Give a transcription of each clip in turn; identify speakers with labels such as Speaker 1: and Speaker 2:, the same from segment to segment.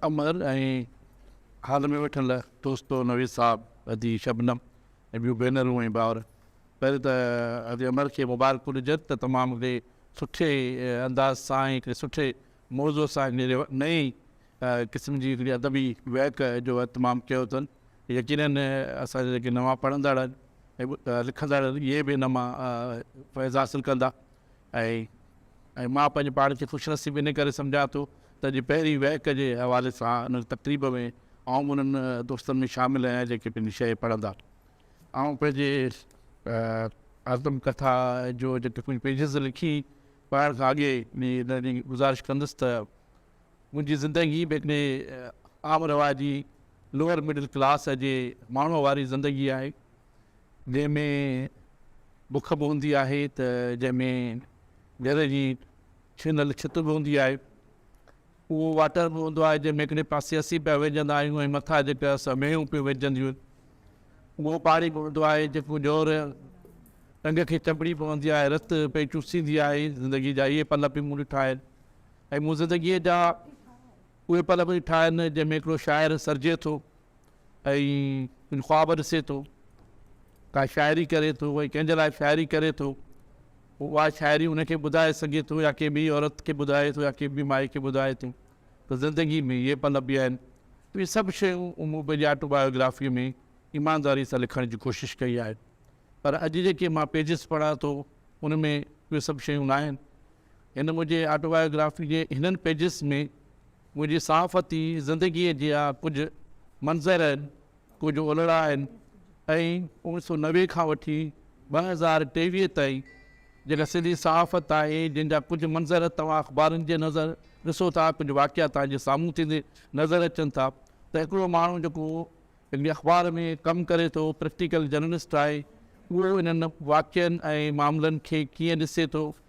Speaker 1: امر ۽ hall ۾ ويٺل دوستو نويد صاحب، ادي شبنم ۽ ٻيون ڀينرون ۽ ڀائر پهرين ته ادي امر کي مبارڪون ڏجن ته تمام هڪڙي سٺي انداز سان ۽ هڪڙي سٺي موضوع سان هڪڙي نئين قسم جي هڪڙي ادبي وهڪ جو اهتمام ڪيو اٿن يقيناً اسان جا جيڪي نوان پڙهندڙ ۽ لکندڙ اهي به ان مان فيض حاصل ڪندا. ۽ مان پنهنجي پاڻ کي خوش نصيب ان ڪري سمجهان ٿو ته اڄ پهرين وهڪ جي حوالي سان ان تقريب ۾ آئون به انهن دوستن ۾ شامل آهيان جيڪي پنهنجي شيء پڙهندا آئون پنهنجي آتم ڪٿا جو جيڪي ڪجهه پيجز لکي پڙهڻ کان اڳي انهن جي گذارش ڪندس ته منهنجي زندگي به هڪڙي عام رواجي لوئر مڊل ڪلاس جي ماڻهوء واري زندگي آهي، جنهن ۾ بک به هوندي آهي ته جنهن ۾ گهر جي ڇنل ڇت به هوندي آهي، اهو واٽر به هوندو آهي جنهن ۾ هڪڙي پاسي اسين پيا ويهجندا آهيون ۽ مٿان جيڪي اسان مينهون پيون وجهجنديون آهن، اهو پاڻي به هوندو آهي جيڪو ڄور ٽنگ کي چنبڙي پوندي آهي، رت پئي چوسيندي آهي، زندگي جا اهي پل به مون ڏٺا آهن. ۽ مون زندگيء جا اهي پل به ڏٺا آهن، جنهن ۾ هڪڙو شاعر سرجي ٿو ۽ ڪجهه خواب ڏسي ٿو، ڪا شاعري ڪري ٿو ۽ ڪنهن جي لاء شاعري ڪري ٿو، پوء اها شاعري ان کي ٻڌائي سگهي ٿو يا ڪنهن ٻيء عورت کي ٻڌائي ٿو يا ڪنهن ٻيء مائي کي ٻڌائي ٿو ته زندگيء ۾ اهي پل به آهن. اهي سڀ شيون مون پنهنجي آٽوبايوگرافيء ۾ ايمانداريء سان لکڻ جي ڪوشش ڪئي آهي، پر اڄ جيڪي مان پيجز پڙهان ٿو، ان ۾ اهي سڀ شيون ناهن. هن منهنجي آٽوبايوگرافي جي هنن پيجز ۾ منهنجي صحافتي زندگيء جا ڪجهه منظر آهن، ڪجهه اولڙا آهن ۽ اوڻ سؤ نوي کان وٺي ٻه هزار ٽيويهه تائين جيڪا سنڌي صحافت آهي، جنهن جا ڪجهه منظر توهان اخبارن جي نظر ڏسو ٿا، ڪجهه واقعا توهان جي سامهون ٿيندي نظر اچن ٿا ته هڪڙو ماڻهو جيڪو هڪڙي اخبار ۾ ڪم ڪري ٿو، پريڪٽيڪل جرنلسٽ آهي، اهو انهن واقعن ۽ معاملن کي ڪيئن ڏسي ٿو،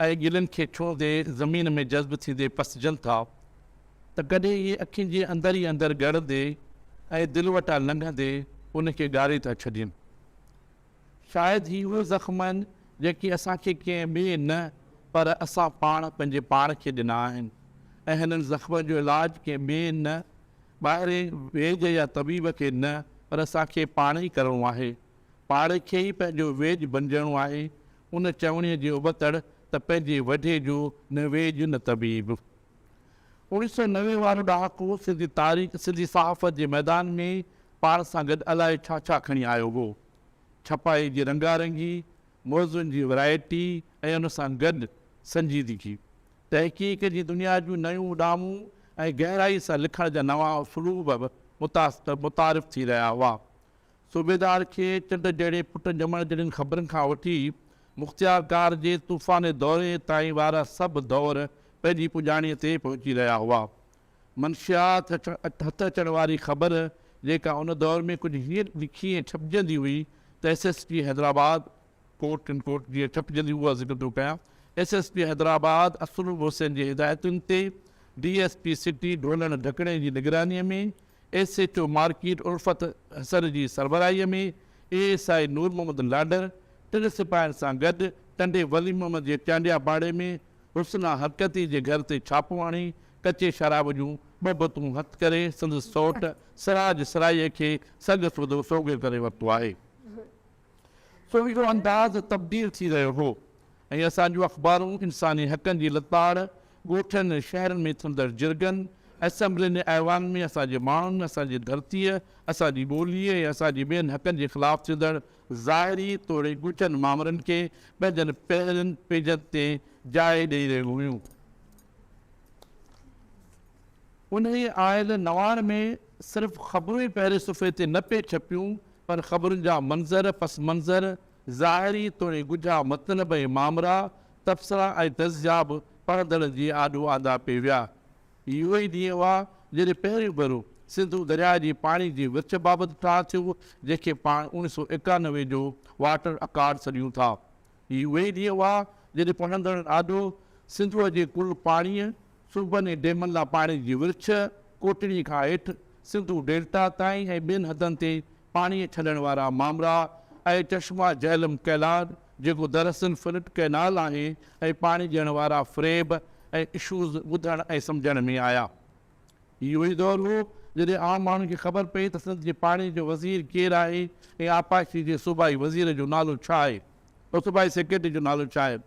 Speaker 1: اهي ڳلن کي ڇهندي زمين ۾ جذب ٿيندي پسجن ٿا ته ڪڏهن اهي اکين جي اندر ئي اندر ڳڙندي ۽ دل وٽان لنگهندي ان کي ڳاري ٿا ڇڏين. شايد هي اهي زخم آهن جيڪي اسان کي ڪنهن ٻئي نه پر اسان پاڻ پنهنجي پاڻ کي ڏنا آهن ۽ هنن زخمن جو علاج ڪنهن ٻئي نه ٻاهرين ويڄ يا طبيب کي نه پر اسان کي پاڻ ئي ڪرڻو آهي پاڻ کي ئي پنهنجو ويڄ بنجڻو آهي ان چوڻيء جي ابتڙ ته پنهنجي وڍي جو نه ويڄ نه طبيب. اوڻيھ سؤ نوي وارو ڏهاڪو سنڌي تاريخ، سنڌي صحافت جي ميدان ۾ پاڻ سان گڏ الائي ڇا ڇا کڻي آيو هو. ڇپائي جي رنگا رنگي، موضوعن جي ورائٽي ۽ ان سان گڏ سنجيدگي. تحقيق جي دنيا جون نيون اڏامون ۽ گهرائي سان لکڻ جا نوان اسلوب به متعارف ٿي رهيا هئا. صوبيدار کي چنڊ جهڙي پٽ ڄمڻ جهڙين خبرن کان وٺي مختيار ڪار جي طوفاني دوري تائين وارا سڀ دؤر پنهنجي پڄاڻيء تي پهچي رهيا هئا. منشيات هٿ اچڻ واري خبر جيڪا ان دؤر ۾ ڪجهه هيئن لکي ۽ ڇپجندي هئي ته S S P Hyderabad quote unquote جيئن ڇپجنديون اها ذڪر ٿو ڪيان S S P Hyderabad Asloob Hussain جي هدايتن تي ڊي ايس پي سٽي ڍولڻ ڍڪڻي جي نگراني ۾ S H O market Ulfat Hassan جي سربراهي ۾ اي ايس آئي نور محمد لاڏر ٽن سپاهين سان گڏ ٽنڊي ولي محمد جي چانڊيا پاڙي ۾ حسنا حرڪتي جي گهر تي ڇاپو هڻي ڪچي شراب جون ٻه بوتون هٿ ڪري سندس سئوٽ سراج سرائيء کي سڳ سوڌو سوگهيو ڪري ورتو آهي. سو اهو انداز تبديل ٿي رهيو هو ۽ اسان جون اخبارون انساني حقن جي لتاڙ، ڳوٺن ۽ شهرن ۾ ٿيندڙ جرڳن، اسيمبلين ۽ ايوان ۾ اسان جي ماڻهن، اسان جي ڌرتيء، اسان جي ٻوليء ۽ اسان جي ٻين حقن جي خلاف ٿيندڙ ظاهري توڙي ڳجهن مامرن کي پنهنجن پهرين پيجن تي جاء ڏئي رهيون هيون. انهيء آيل نوار ۾ صرف خبرون ئي پهرين صفحي تي نه پئي ڇپيون، پر خبرن جا منظر، پس منظر، ظاهري توڻي ڳجها مطلب ۽ مامرا، تبصرا ۽ تجزيا به پڙهندڙن جي آڏو آندا پئي ويا. اهو ئي ڏينهن هئا، جڏهن پهريون ڀيرو سنڌو درياء جي پاڻي جي ورڇ بابت ٺاهه ٿيو، جنهن کي پاڻ اوڻيهه سؤ ايڪانوي جو واٽر اڪارڊ سڏيون ٿا. هي اهي ئي ڏينهن هئا، جڏهن پنهنجندڙ ڏاڍو، سنڌوء جي ڪل پاڻيء، صوبن ۽ ڊيمن لاء پاڻي جي ورڇ، ڪوٽڙي کان هيٺ، سنڌو ڊيلٽا تائين ۽ ٻين حدن تي پاڻيء ڇڏڻ وارا مامرا ۽ چشما جهلم ڪئلاڊ، جيڪو دراصل فلٽ ڪئنال آهي، ۽ پاڻي ڏيڻ وارا فريب ۽ اشوز ٻڌڻ ۽ سمجهڻ ۾ آيا. اهو ئي دور هو، جڏهن عام ماڻهن کي خبر پئي ته سنڌ جي پاڻي جو وزير ڪير آهي ۽ آبپاشي جي صوبائي وزير جو نالو ڇا آهي ۽ صوبائي سيڪريٽري جو نالو ڇا آهي.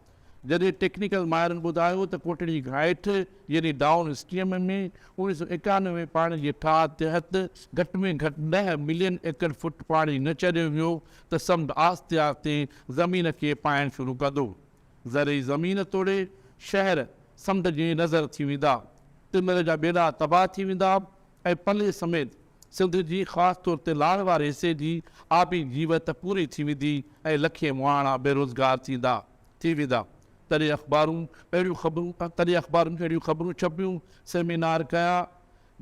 Speaker 1: جڏهن ٽيڪنيڪل ماهرن ٻڌايو ته ڪوٽڙي گهاٽ يعني ڊائون اسٽريم ۾ اوڻيهه سؤ ايڪانوي ۾ پاڻي جي ٺاهه تحت گهٽ ۾ گهٽ ڏهه ملين ايڪڙ فوٽ پاڻي نه چريو ويو ته سمنڊ آهستي آهستي زمين کي پائڻ شروع ڪندو زرعي زمين توڙي شهر سمنڊ جي نظر ٿي ويندا، ٽميل جا ٻيڙا تباهه ٿي ويندا ۽ پلي سميت سنڌ جي خاص طور تي لاڙ واري حصي جي آبي جيوت پوري ٿي ويندي ۽ لکين مهاڻا بيروزگار ٿيندا ٿي ويندا تڏهن اخبارون اهڙيون خبرون تڏهن اخبارون اهڙيون خبرون ڇپيون، سيمينار ڪيا،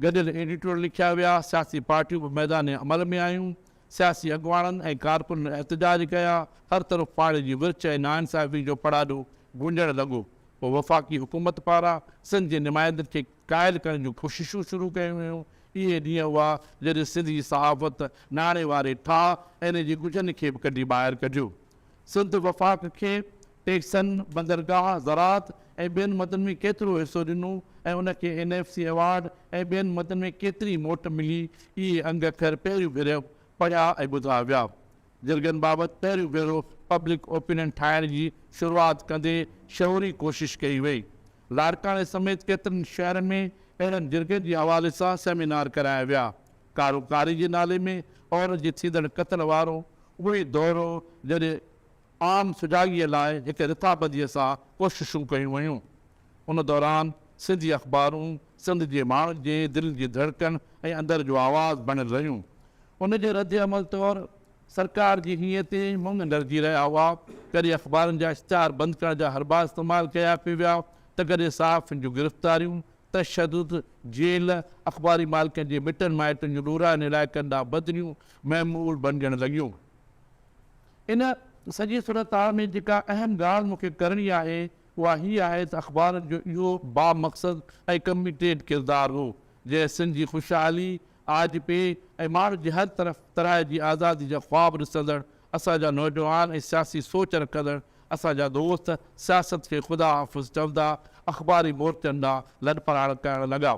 Speaker 1: گڏيل ايڊيٽوريل لکيا ويا، سياسي پارٽيون به ميدان عمل ۾ آيون، سياسي اڳواڻن ۽ ڪارڪنن احتجاج ڪيا، هر طرف پاڻي جي ورڇ ۽ ناانصافي جو پڙاڏو گونجڻ لڳو، پوء وفاقي حڪومت پاران سنڌ جي نمائندن کي قائل ڪرڻ جون ڪوششون شروع ڪيون ويون، اهي ڏينهن هئا جڏهن سنڌ جي صحافت ناڻي واري ٺاهه ۽ ان جي ڳجهن کي به ڪڍي ٻاهر ڪڍيو سنڌ وفاق کي ٽيڪسن، بندرگاهه، زراعت ۽ ٻين مدن ۾ ڪيترو حصو ڏنو ۽ ان کي اين ايف سي ايوارڊ ۽ ٻين مدن ۾ ڪيتري موٽ ملي، اهي انگ اکر پهريون ڀيرو پڙهيا ۽ ٻڌا ويا. جرڳن بابت پهريون ڀيرو پبلڪ اوپينين ٺاهڻ جي شروعات ڪندي شعوري ڪوشش ڪئي وئي. لاڙڪاڻي سميت ڪيترن شهرن ۾ اهڙن جرڳن جي حوالي سان سيمينار ڪرايا ويا. ڪارو ڪاري جي نالي ۾ عورت جي ٿيندڙ قتل وارو اهوئي دور هو جڏهن عام سجاڳيء لاء هڪ رٿابنديء سان ڪوششون ڪيون ويون. ان دوران سنڌي اخبارون سنڌ جي ماڻهن جي دل جي ڌڙڪن ۽ اندر جو آواز بڻيل رهيون. ان جي ردعمل طور سرڪار جي هيئن تيئن مڱ ڍرجي رهيا هئا، ڪڏهن اخبارن جا اشتهار بند ڪرڻ جا حربا استعمال ڪيا پئي ويا ته ڪڏهن صحافين جون گرفتاريون، تشدد، جيل، اخباري مالڪن جي مٽن مائٽن جون ڏورانهين علائقن ڏانهن بدليون معمول بڻجڻ لڳيون. ان سڄي صورتحال ۾ جيڪا اهم ڳالهه مون کي ڪرڻي آهي اها هي آهي ته اخبارن جو اهو بامقصد ۽ ڪميٽيڊ ڪردار هو جنهن سنڌ جي خوشحالي، آج پي ۽ ماڻهن جي هر طرف طرح جي آزادي جا خواب ڏسندڙ اسان جا نوجوان ۽ سياسي سوچ رکندڙ اسان جا دوست سياست کي خدا حافظ چوندا اخباري مورچن ڏانهن لڏپلاڻ ڪرڻ لڳا.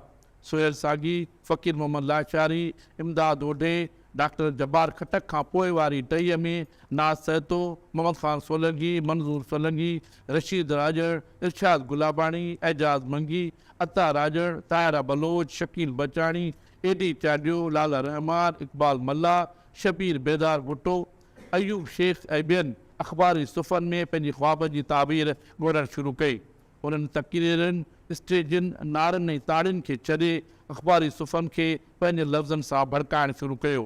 Speaker 1: سهيل ساڳي. فقير محمد لاشاري، امداد اوڍي، ڊاڪٽر جبار خٽڪ کان پوء واري ٽهيء ۾ ناز سهتو، محمد خان سولنگي، منظور سولنگي، رشيد راڄڙ، ارشاد گلاباڻي، اعجاز منگي، عطا راڄڙ، طاهره بلوچ، شڪيل بچاڻي، اي ڊي چاڍيو، لالا رحمان، اقبال ملاح، شبير بيدار ڀٽو، ايوب شيخ ۽ ٻين اخباري صفحن ۾ پنهنجي خوابن جي تعبير ڳولڻ شروع ڪئي. انهن تقريرن، اسٽيجن، نعرن ۽ تاڙين کي ڇڏي اخباري صفحن کي پنهنجي لفظن سان ڀڙڪائڻ شروع ڪيو.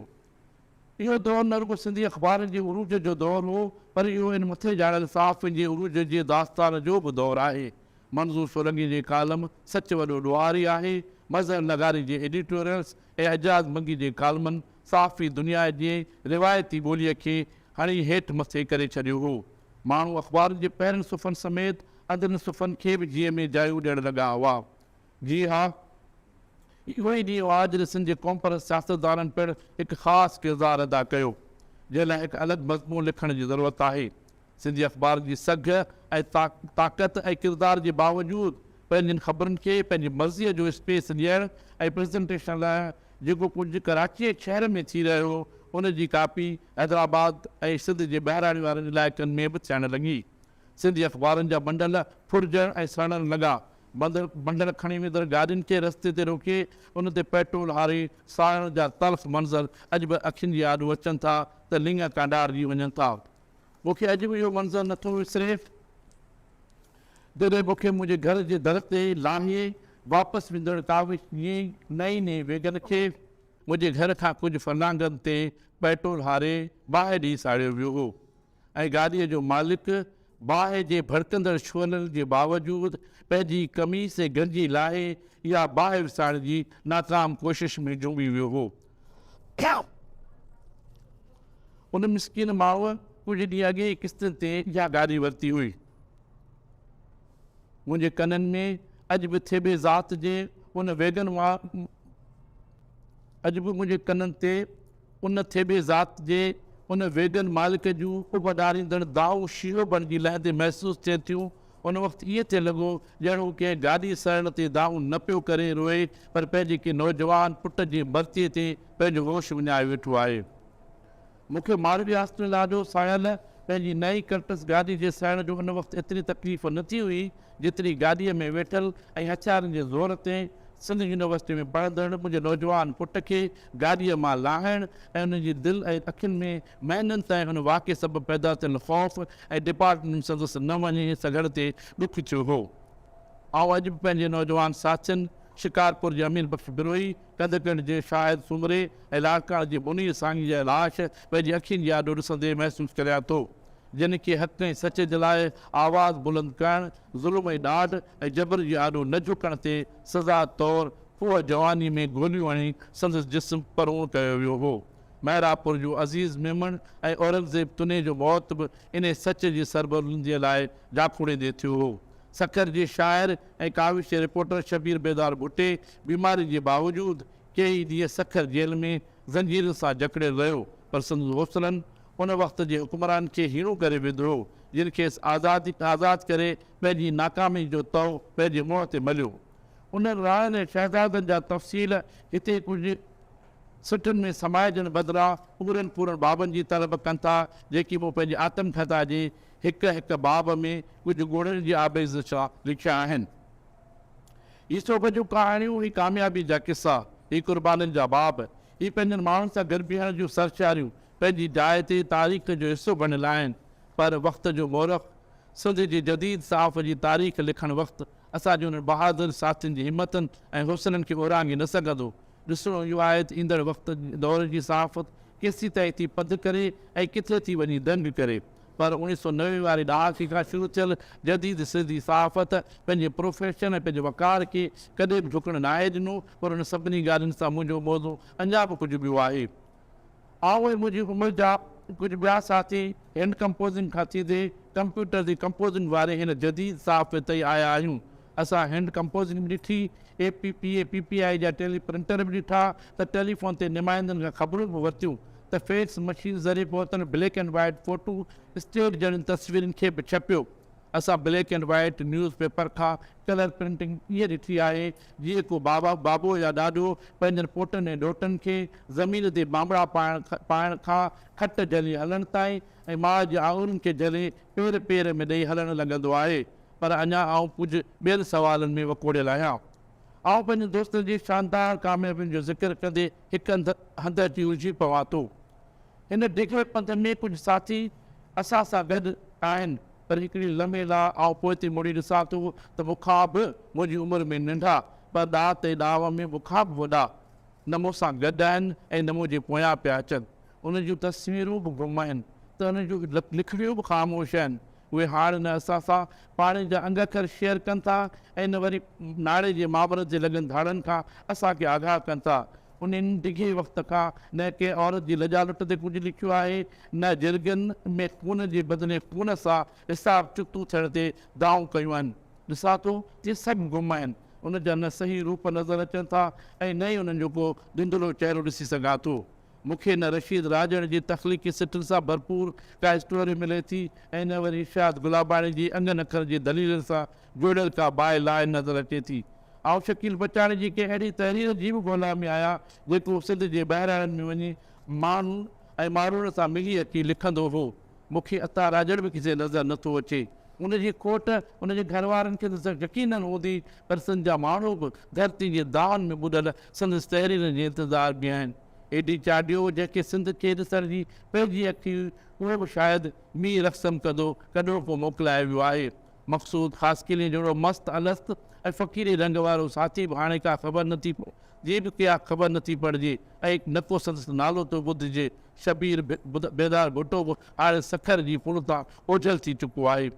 Speaker 1: اهو دور نه رڳو سنڌي اخبارن جي عروج جو دور هو پر اهو هن مٿي ڄاڻايل صحافين جي عروج جي داستان جو به دور آهي. منظور سولنگي جي ڪالم سچ وڏو ڏوهاري آهي، مظهر لغاري جي ايڊيٽوريلز ۽ اعجاز منگي جي ڪالمن صحافي دنيا جي روايتي ٻوليء کي هڻي هيٺ مٿي ڪري ڇڏيو هو. ماڻهو اخبارن جي پهرين صفحن سميت اندرين صفحن کي به جيء ۾ جايو ڏيڻ لڳا هئا. جي ها، اهو ئي ڏينهن هو جڏهن سنڌ جي قومپرست سياستدانن پڻ هڪ خاص ڪردار ادا ڪيو، جنهن لاء هڪ الڳ مضمون لکڻ جي ضرورت آهي. سنڌي اخبارن جي سگهه ۽ طاقت ۽ ڪردار جي باوجود پنهنجين خبرن کي پنهنجي مرضيء جو اسپيس ڏيڻ ۽ پريزنٽيشن لاء جيڪو ڪجهه ڪراچيء شهر ۾ ٿي رهيو هو، ان جي ڪاپي حيدرآباد ۽ سنڌ جي ٻهراڙي وارن علائقن ۾ به ٿيڻ لڳي. سنڌي اخبارن جا بنڊل ڦرجڻ ۽ سڙڻ لڳا. بندر بنڊل کڻي ويندڙ گاڏين کي رستي تي روڪي ان تي پيٽرول هاري ساڙڻ جا تلخ منظر اڄ به اکين جي آڏو اچن ٿا ته لڱا ڪانڊارجي وڃن ٿا. مون کي اڄ به اهو منظر نه ٿو وسري، جڏهن مون کي منهنجي گهر جي در تي لاهي واپس ويندڙ ڪاوش جي نئين نئين ويگن کي منهنجي گهر کان ڪجهه فرلانگن تي پيٽرول هاري باهه ڏئي ساڙيو ويو هو ۽ گاڏيء جو مالڪ باهه جي ڀڙڪندڙ شعلن جي باوجود پنهنجي قميص ۽ گنجي لاهي اها باهه وسائڻ جي ناڪام ڪوشش ۾ جهومي ويو هو. ان مسڪين ماء ڪجهه ڏينهن اڳ ئي قسطن تي اها گاڏي ورتي هئي. منهنجي ڪنن ۾ اڄ به ٿيٻي ذات جي ان ويگن وار اڄ به منهنجي ڪنن تي ان ٿيٻي ذات جي ان ويگن مالڪ جون اڀ ڏاريندڙ دانهون شينهن بڻجي لهندي محسوس ٿين ٿيون ان وقت ائين ٿيڻ لڳو ڄڻ هو ڪنهن گاڏي سڙڻ تي دانهون نه پيو ڪري روئي پر پنهنجي ڪنهن نوجوان پٽ جي مرثيي تي پنهنجو هوش وڃائي ويٺو آهي. مون کي ماڙوي هاسٽل آڏو ساهيل پنهنجي نئين ڪرٽس گاڏي جي سڙڻ جو ان وقت ايتري تڪليف نه ٿي هئي جيتري گاڏيء ۾ ويٺل ۽ هٿيارن جي زور تي سنڌ يونيورسٽيء ۾ پڙهندڙ منهنجي نوجوان پٽ کي گاڏيء مان لاهڻ ۽ ان جي دل ۽ اکين ۾ مهينن تائين ان واقعي سبب پيدا ٿيل خوف ۽ ڊپارٽمينٽ سندس نه وڃي سگهڻ تي ڏک ٿيو هو. آئون اڄ به پنهنجي نوجوان ساٿين شڪارپور جي امين بخش بروهي، ڪنڌڪڙ جي شاهد سومري ۽ لاڙڪاڻي جي منير ساهني جا لاش پنهنجي اکين جي آڏو ڏسندي محسوس ڪريان ٿو، جن کي حق ۽ سچ جي لاء آواز بلند ڪرڻ، ظلم ۽ ڏاڍ ۽ جبر جي آڏو نه جهڪڻ تي سزا طور کوهه جواني ۾ گوليون هڻي سندس جسم پروڻ ڪيو ويو هو. محرابپور جون عزيز ميمڻ ۽ اورنگزيب تنين جو موت به انهي سچ جي سربلنديء لاء جاکوڙيندي ٿيو هو. سکر جي شاعر ۽ ڪاوش رپورٽر شبير بيدار ڀٽي بيماري جي باوجود ڪيئي ڏينهن سکر جيل ۾ زنجيرن سان جڪڙيل رهيو پر سندس حوصلن ان وقت جي حڪمران کي هيڻو ڪري وڌو جن کيس آزاد ڪري پنهنجي ناڪامي جو تئو پنهنجي منهن تي مليو. انهن راهن ۽ شهزادن جا تفصيل هتي ڪجهه سٽن ۾ سمائجڻ بدران پورن پورن بابن جي طلب ڪن ٿا، جيڪي مون پنهنجي آتم ڪٿا جي هڪ هڪ باب ۾ ڪجهه ڳوڙهن جي آبيز سان لکيا آهن. هي سوڀ جون ڪهاڻيون، هي ڪاميابي جا قصا، هي قربانين جا باب، هي پنهنجن ماڻهن سان گڏ بيهڻ جون سرشاريون پنهنجي جاء تي تاريخ جو حصو بڻيل آهن، پر وقت جو مورخ، سنڌ جي جديد صحافت جي تاريخ لکڻ وقت، اسان جي انهن بهادر ساٿين جي همتن ۽ حوصلن کي اورانگهي نه سگهندو. ڏسڻو اهو آهي ته ايندڙ وقت دور جي صحافت ڪيسين تائين ٿي پڌ ڪري ۽ ڪٿي ٿي وڃي دنگ ڪري پر اڻيهه سؤ نوي واري ڏهاڪي کان شروع ٿيل جديد سنڌي صحافت پنهنجي پروفيشن ۽ پنهنجي وقار کي ڪڏهن به جهڪڻ ناهي ڏنو پر ان سڀني ڳالهين سان منهنجو موضوع اڃا به ڪجهه ٻيو آهي. آئون ۽ منهنجي عمر جا ڪجهه ٻيا ساٿي هينڊ ڪمپوزنگ کان سيڌي ڪمپيوٽر جي ڪمپوزنگ واري هن جديد صحافت تي آيا آهيون. اسان هينڊ ڪمپوزنگ به ڏٺي، A P P A, P P I جا ٽيلي پرنٽر به ڏٺا ته ٽيليفون تي نمائندن کان خبرون به ورتيون ته فيڪس مشين ذريعي پهتل black and white photostat جهڙين تصويرن کي به ڇپيو اسان black and white newspaper کان ڪلر پرنٽنگ ائين ڏٺي آهي جيئن ڪو بابا، بابو يا ڏاڏو پنهنجن پوٽن ۽ ڏوهٽن کي زمين تي بانبڙا پائڻ پائڻ کان کٽ جهلي هلڻ تائين ۽ ماء جي آڱرين کي جهلي پير پير ۾ ڏئي هلڻ لڳندو آهي. پر اڃا آئون ڪجهه ٻين سوالن ۾ وڪوڙيل آهيان. آئون پنهنجن دوستن جي شاندار ڪاميابين جو ذڪر ڪندي هڪ هنڌ هنڌ اچي الجهي پوان ٿو. هن ڊگهي پنڌ ۾ ڪجهه ساٿي اسان سان گڏ آهن، پر هڪڙي لمحي لاء آئون پوئتي مڙي ڏسان ٿو ته مون کان به منهنجي عمر ۾ ننڍا، پر ڏات ۽ ڏانء ۾ مون کان به وڏا، نه مون سان گڏ آهن ۽ نه منهنجي پويان پيا اچن. انهن جون تصويرون به گم آهن ته انهن جون لکڻيون به خاموش آهن. اهي هاڻ نه اسان سان پاڻي جا انگ اکر شيئر ڪن ٿا ۽ نه وري ناڙي جي مامرت جي لڳن ڌاڙن کان اسان کي آگاهه ڪن ٿا. انهن ڊگهي وقت کان نه ڪنهن عورت جي لڄا لٽ تي ڪجهه لکيو آهي نه جرڳن ۾ خون جي بدلي خون سان حساب چڪتو ٿيڻ تي دانهون ڪيون آهن. ڏسان ٿو ته سڀ گم آهن. ان جا نه صحيح روپ نظر اچن ٿا ۽ نه ئي انهن جو ڪو ڌنڌلو چهرو ڏسي سگهان ٿو. مون کي نه رشيد راڄڙ جي تخليقي سٽن سان ڀرپور ڪا اسٽوري ملي ٿي ۽ نه وري ارشاد گلاباڻي جي انگن اکر جي دليلن سان جوڙيل ڪا باء لائن نظر اچي ٿي. آئون شڪيل بچاڻي جي ڪنهن اهڙي تحرير جي به ڳولا ۾ آهيان جيڪو سنڌ جي ٻهراڙين ۾ وڃي ماڻهن ۽ ماڻهوڙن سان ملي اچي لکندو هو. مون کي عطا راڄڙ به ڪٿي نظر نه ٿو اچي. ان جي کوٽ ان جي گهر وارن کي ته يقيناً هوندي پر سنڌ جا ماڻهو به ڌرتي جي دانهن ۾ ٻڏل سندس تحريرن جي انتظار ۾ آهن. اي ڊي چاڍيو جنهن کي سنڌ کي ڏسڻ جي پنهنجي اک هئي اهو به شايد مير اخسم ڪندو ڪڏهوڪو موڪلائي ويو آهي. مقصود خاصخيليء جهڙو مست الست ۽ فقيري رنگ وارو ساٿي به هاڻي ڪا خبر نه ٿي پئي، جي به ڪيا خبر نه ٿي پڙجي ۽ نه ڪو سندس نالو ٿو ٻڌجي. شبير بيدار ڀٽو به هاڻي سکر جي ڦڙ تان اوجهل ٿي چڪو آهي.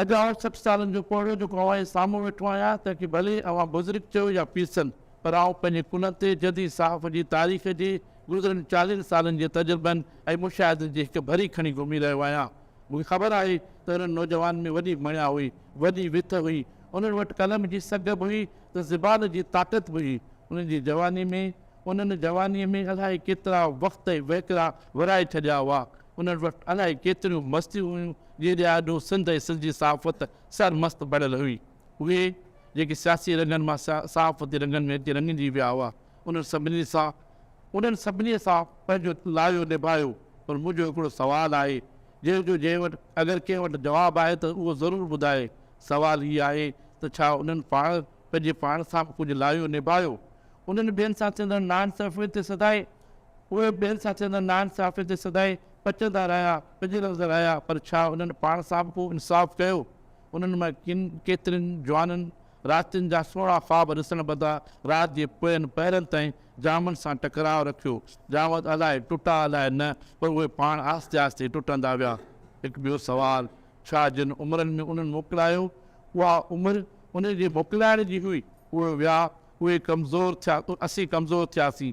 Speaker 1: اڄ آئون سٺ سالن جو پوڙهو جيڪو اوهان جي سامهون ويٺو آهيان، تنهن کي ڀلي اوهان بزرگ چئو يا پيسن، پر آئون پنهنجي ڪلهن تي جديد صحافت جي تاريخ جي گذريل چاليهن سالن جي تجربن ۽ مشاهدن جي هڪ ڀري کڻي گهمي رهيو آهيان. مون کي خبر آهي ته انهن نوجوانن ۾ وڏي مڻيا هئي، وڏي وٿ هئي، انهن وٽ قلم جي سگهه به هئي ته زبان جي طاقت به هئي. انهن جي جواني ۾ انهن جوانيء ۾ الائي ڪيترا وقت ۽ وهڪرا ورهائي ڇڏيا هئا. انهن وٽ الائي ڪيتريون مستيون هيون، جنهن جي آڏو سنڌ ۽ سنڌ جي صحافت سرمست بڻيل هئي. اهي، جيڪي سياسي رنگن مان صحافتي رنگن ۾ اچي رڱجي ويا هئا، انهن سڀني سان انهن سڀني سان پنهنجو لايو نڀايو پر منهنجو هڪڙو سوال آهي جنهن جو جنهن وٽ اگر ڪنهن وٽ جواب آهي ته اهو ضرور ٻڌائي سوال هي آهي ته ڇا انهن پاڻ پنهنجي پاڻ سان به ڪجهه لايو نڀايو انهن ٻين سان ٿيندڙ ناانصافين تي سدائين اهي ٻين سان ٿيندڙ ناانصافين تي سدائين پچندا رهيا پڄرندا رهيا پر ڇا انهن پاڻ سان به ڪو انصاف ڪيو انهن مان ڪن ڪيترن جوانن راتين جا سهڻا خواب ڏسڻ بدان رات جي پوين پهرن تائين ڄامن سان ٽڪراء رکيو. ڄام ته الائي ٽٽا الائي نه پر اهي پاڻ آهستي آهستي ٽٽندا ويا. هڪ ٻيو سوال، ڇا جن عمرن ۾ انهن موڪلايو، اها عمر انهن جي موڪلائڻ جي هئي؟ اهي ويا، اهي ڪمزور ٿيا ته اسين ڪمزور ٿياسين.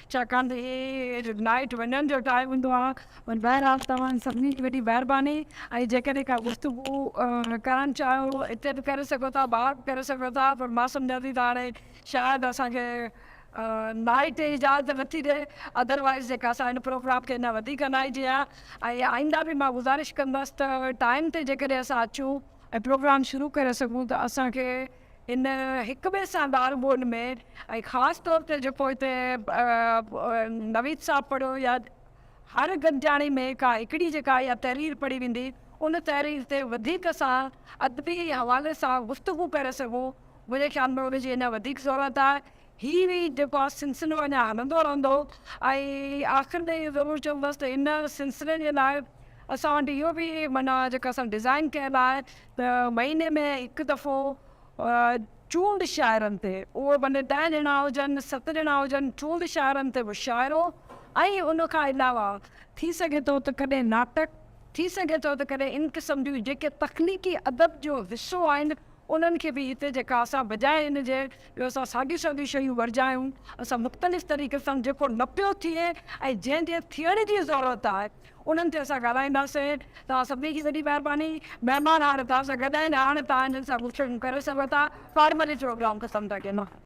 Speaker 2: ڇاڪاڻ ته هي نائٽ وڃڻ جو ٽائيم هوندو آهي پر بهرحال توهان سڀني جي وڏي مهرباني ۽ جيڪڏهن ڪا گفتگو ڪرڻ چاهيو اتي به ڪري سگهو ٿا ٻاهر به ڪري سگهو ٿا پر مان سمجهان ٿي ته هاڻي شايد اسان کي نائٽ اجازت نٿي ڏئي اڌروائيز جيڪا اسان هن پروگرام کي اڃا وڌيڪ هلائي جي ها ۽ آئنده به مان گذارش ڪندس ته ٽائيم تي جيڪڏهن اسان اچون ۽ پروگرام شروع ڪري سگهون ته اسان کي ان هڪ ٻئي سان ڳالهه ٻولهه ۾ ۽ خاص طور تي جيڪو هتي نويد صاحب پڙهيو يا هر گڏجاڻي ۾ ڪا هڪڙي جيڪا اها تحرير پڙهي ويندي ان تحرير تي وڌيڪ سان ادبي حوالي سان گفتگو ڪري سگهون منهنجي خيال ۾ ان جي اڃا وڌيڪ ضرورت آهي هي هي جيڪو آهي سلسلو اڃا هلندو رهندو ۽ آخر ۾ اهو ضرور چوندس ته ان سلسلي جي لاء اسان وٽ اهو به معنيٰ جيڪو اسان ڊزائن ڪيل آهي ته مهيني ۾ هڪ دفعو چونڊ شاعرن تي، اهو ڀلي ڏهه ڄڻا هجن، ست ڄڻا هجن، چونڊ شاعرن تي مشاعرو ۽ ان کان علاوه ٿي سگهي ٿو ته ڪڏهن ناٽڪ، ٿي سگهي ٿو ته ڪڏهن ان قسم جون جيڪي تخليقي ادب جو حصو آهن انهن کي به هتي جيڪا اسان بجاء ان جي جو اسان ساڳيون ساڳيون شيون ورجايون اسان مختلف طريقي سان جيڪو نه پيو ٿئي ۽ جنهن جي ٿيڻ جي ضرورت آهي انهن تي اسان ڳالهائينداسين. توهان سڀني جي وڏي مهرباني. مهمان هاڻ توهان سان گڏ آهن، هاڻ توهان هنن سان گفتگو ڪري سگهو ٿا. فارملي پروگرام ختم ٿا ڪيون.